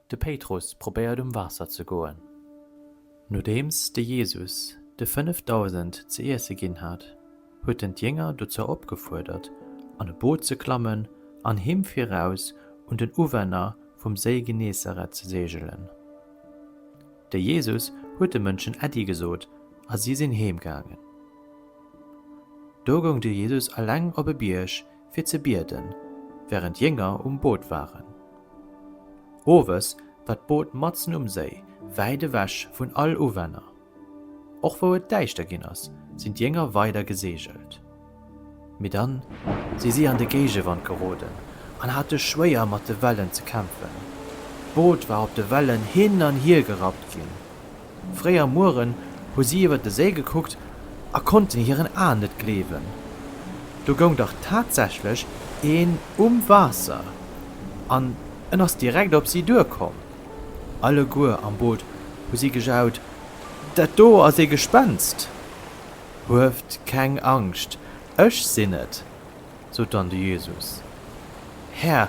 De Péitrus probéiert um Waasser ze goen. Nodeems de Jesus de 5000 ze iesse ginn hat, huet en d'Jénger dozou opgefuerdert, an e Boot ze klammen an him viraus un den Uwänner vum Séi Genesareth ze seegelen. De Jesus huet de Mënschen Äddi gesot a si sinn heemgaangen. Do goung de Jesus eleng op e Bierg fir ze bieden, während jénger um Boot waren. Owes war d'Boot matzen um Séi, wäit ewech vun all Uwänner. Och wou et däischter gin as, sin d'Jénger weider gesegelt. Mee dann si si an de Géigewand geroden an hate schwéier mat de Wellen ze kämpfen. D'Boot war op de Wellen hin an hier gerappt gin. Fréi am Mueren hu si iwwer de Séi gekuckt a konnten hiren Aen net gleewen. Do goung dach tatsächlech een um Waasser an en ass direkt op si duerkomm. Alleguer am Boot hu si gejaut, Dat do ass ee Gespenst! Hueft keng Angscht, ech sinn et! sot dann de Jesus. Här,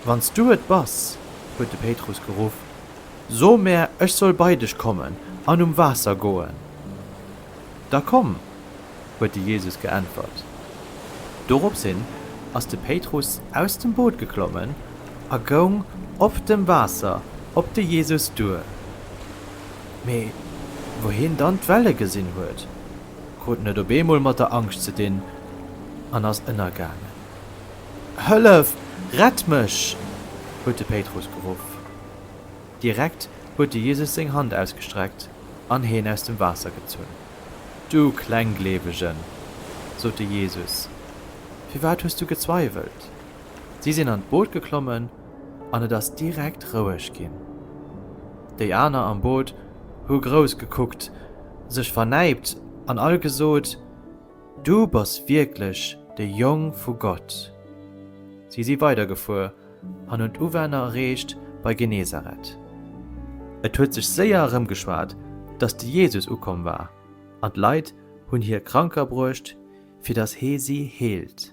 wann s du et bass, huet de Péitrus geruff, so mär, ech soll bei dech kommen an um Waasser goen. Da komm, huet de Jesus geäntwert. Dorops hin ass de Péitrus aus dem Boot geklommen a goung op dem Waasser op de Jesus duer. Mee wou hien dann d'Welle gesinn huet, Krut net op eemol mat der Angscht ze dinn an ass ënnergaangen. Hëllef! Rett mech! huet de Péitrus geruff. Direkt huet de Jesus seng Hand ausgestreckt an heen aus dem Waasser gezunn. Du Klenggleewegen! sot de Jesus, firwat hues du gezweiwelt? Si sinn an d'Boot geklommen an et ass direkt roueg ginn. Déi aner am Boot hu grouss gekuckt, sech vernäipt an all gesot, Du bass wierklech de Jong vu Gott. Si si weidergefuer an hunn d'Uwänner erreecht bei Genesareth. Et huet sech séier erëmgeschwat, datt de Jesus ukomm war, an d'Leit hunn hie Kranker bruecht, fir datt hee si heelt.